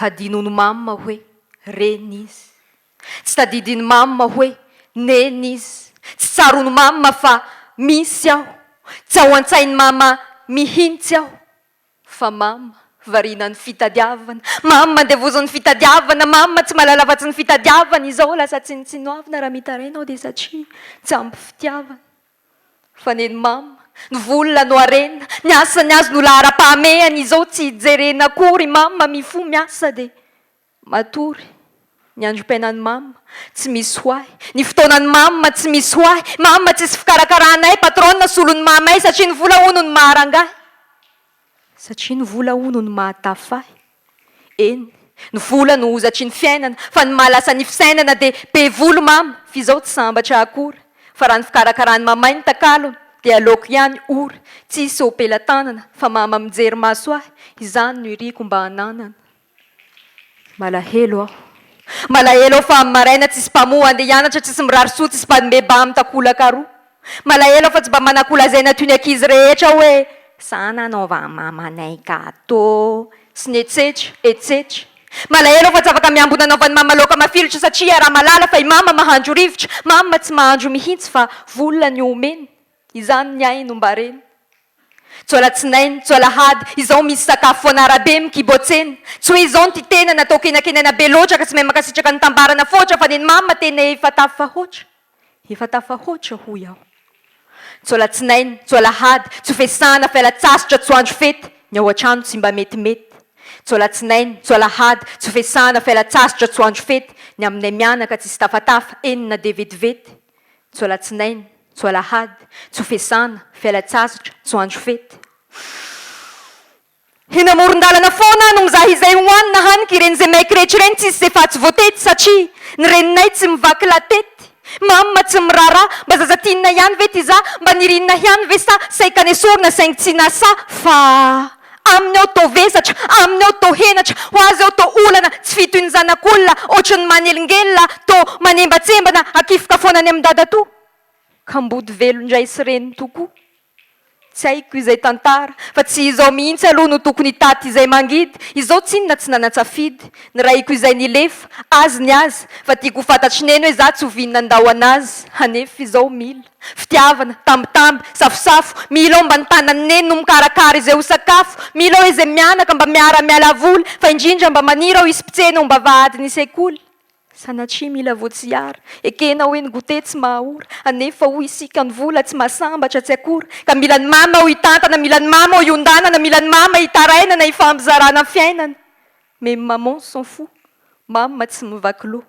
Hadinon'i Mama hoe Reny izy. Tsy tadidin'i Mama hoe Neny izy. Tsy tsaroan'i Mama fa misy aho. Tsy ao an-tsain'i Mama mihintsy aho. Fa mama, variana ny fitadiavana, mama, andevozon'ny fitadiavana, mama, tsy mahalala afa-tsy ny fitadiavana izao, lasa tsinontsinoavina raha mitaraina aho dia satria tsy ampy fitiavana. Fa neny mama, ny vola no harena, ny asany azy no laharam-pahamehana izao tsy hijerena akory, mama, mifoha miasa dia. Matory, ny androm-piainan'i Mama, tsy misy ho ahy, ny fotoanan'i Mama, tsy misy ho ahy, Mama, tsisy fikarakaranay, patronne, solon'i Mamay, satria ny vola hono no maharangahy, satria ny vola hono no mahatafy ahy, eny, ny vola no hozatry ny fiainana, fa ny mahalasa ny fisainana dia, be volo Mama, f'izao tsy sambatra akory, fa raha ny fikarakaran'i Mamay ny takalony, dia aleoko ihany ory, tsisy ho pelatanana, fa Mama mijery maso ahy, izany no iriko mba hananana. Malahelo aho. Malahelo aho fa amin'ny maraina tsisy mpamoha handeha hianatra, tsisy mirary soa, tsisy mpanome ba amin'ny takolaka aroa. Malahelo aho fa tsy mba manakolazaina toy ny ankizy rehetra hoe Sa nanaova an'i mamanay gâteau? sy ny etsetra, etsetra. Malahelo aho fa tsy afaka miambina anaovan'i mama laoka mafilotra satria iaraha-mahalala fa i mama mahandro rivotra, mama tsy mahandro mihitsy fa vola ny omeny. Izany ny ahy nombarena. Tsy alatsinainy, tsy alahady, izao misy sakafo foana arabe mikibo tsena. Tsy hoe izao ny ty tena natao kenakenaina be loatra ka tsy mahay mankasitraka ny tambarana foatra fa neny mama tena efa tafahoatra, efa tafahoatra hoy aho. Tsy alatsinainy, tsy alahady, tsy fesana, fialatsastra, tsy andro fety, ny ao antrano tsy mba metimety. Tsy alatsinainy, tsy alahady, tsy fesana, fialatsastra, tsy andro fety, ny aminay mianaka tsisy tafatafa, eny na dia vetivety. Tso alatsinainy, tso alahady, tso fesana, fialan-tsasitra, tso andro fety. Eny amoron-dalana foana no mizaha izay hohanina haniky ireny izay maiky rehetra ireny tsisy izay fahatsy voatety satria ny reninay tsy mivaky latety, mama tsy miraharaha mba zaza tianina ihany ve ty za, mba nirinina ihany ve sa saika nesorina saingy tsy nasa fa. Aminy aho toa vesatra, aminy aho toa henatra, ho azy aho toa olana tsy fito ny zanak'olona, ohatry ny manelingelina, toa manembatsembana, hakifoka foana any amin'i dadatoa. Kamboty velona indray sy reniny tokoa. Tsy haiko izay tantara, fa tsy izao mihitsy aloha no tokony hitaty izay mangidy, izao tsinona tsy nanan-tsafidy, nirahiko izay nilefa, azy ny azy, fa tiako ho fantatry neny hoe za tsy ho vinona handao an'azy, hanefa izao mila. Fitiavana, tambitamby, safosafo, Milo mba ny tanan'i Neny no mikarakara izay ho sakafo, Milo izay mianaka mba miara-miala voly, fa indrindra mba maniry aho hisy mpitsena ho mba vadin'ny sekoly. Sanatria mila voatsiara, ekena hoe ny goûter tsy maha-ora, anefa hoy isika ny vola tsy maha-sambatra tsy akora, ka mila ny mama aho hitantana, mila ny mama aho hiondanana, mila ny mama hitarainana hifampizarana fiainana, mais maman s'en fout, mama tsy mivaky loha.